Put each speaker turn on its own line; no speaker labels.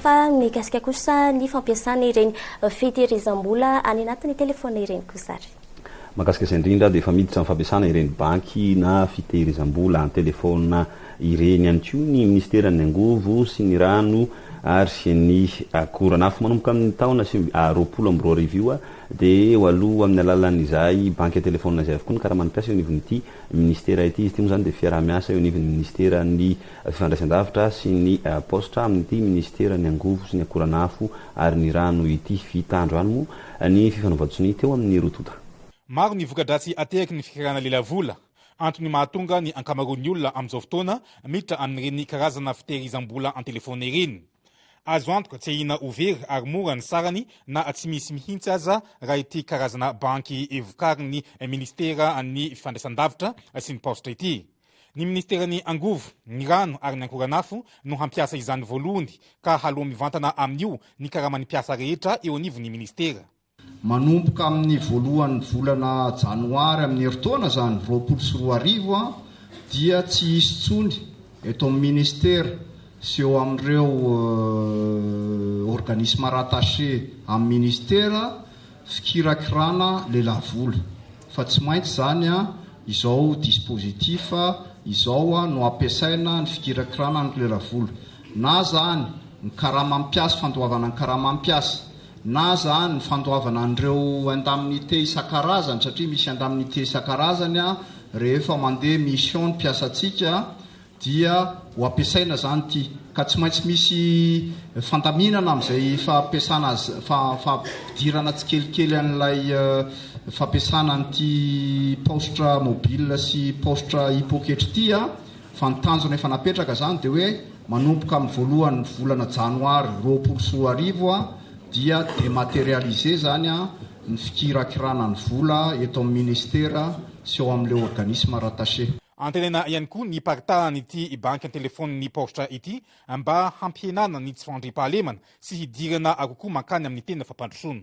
Fa mikasika kosa ny fampiasana ireny fitehirizam-bola any anatin'ny telefaonina ireny kosa ary. Mahakasika izay
indrindra dia efa miditra amin'ny fampiasana ireny banky na fitehirizam-bola an-telefaonina ireny ihany koa ny minisiteran'ny Angovo sy ny rano ary ny akora nafo. Manomboka amin'ny taona sivy roapolo amby roa arivo io dia ho aloa amin'ny alalan'izay banky an-telefaonina izay avokoa ny karaman'ny mpiasa eo anivon'ity Minisitera ity. Izy ity moa izany dia fiaraha-miasa eo anivon'ny Minisiteran'ny fifandraisan-davitra sy ny paositra amin'ity Minisiteran'ny angovo sy ny akoranafo ary ny rano ity. Vita androany moa ny fifanaovan-tsonia teo amin'ny roa tonta. Maro ny
voka-dratsy ateraky ny fikarana lelavola. Antony mahatonga ny ankamaroan'ny olona amin'izao fotoana miditra amin'ireny karazana fitehirizam-bola an-telefaona ireny. Azo antoka tsy ahiana ho very ary mora ny sarany na tsy misy mihitsy aza raha ity karazana banky vokarin'ny Minisitera ny Fifandraisandavitra sy ny Paositra ity. Ny Minisiteran'ny Angovo, ny Rano ary ny Ankoranafo no hampiasa izany voalohony ka haloa mivantana amin'io ny karaman'ny mpiasa rehetra eo anivon'ny Minisitera. Manomboka
amin'ny voalohan'ny volana janoary amin'ny herintaona izany roapolo sy roa arivo dia tsy hisy intsony eto amin'ny Ministera sy eo amin'ireo organismes rattaché amin'ny Ministera fikirakirana lelavola fa tsy maintsy izany izao dispositif izao no ampiasaina ny fikirakirana ny lelavola na izany ny karama mpiasa fandoavana ny karama mpiasa na aza ny fandoavana an'ireo indemnités isan-karazany, satria misy indemnités isan-karazany rehefa mandeha mission ny mpiasantsika, dia ho ampiasaina izany ity, ka tsy maintsy misy fandaminana amin'izay fampiasana azy, fampidirana tsikelikely an'ilay fampiasana an'ity paositra mobile sy paositra hipoketra ity. fa ny tanjona efa napetraka izany dia hoe manomboka amin'ny voalohan'ny volana janoary roapolo sy roa arivo dia dematerialiser izany ny fikirakirana ny vola eto amin'ny ministera sy ao amin'ilay organisme rattaché. Antenaina ihany koa
ny hiparitahan'ity banky an-telefaonin'ny paositra ity mba hampihenana ny tsy fandriampahalemana sy hidirana kokoa mankany amin'ny tena fampandrosoana.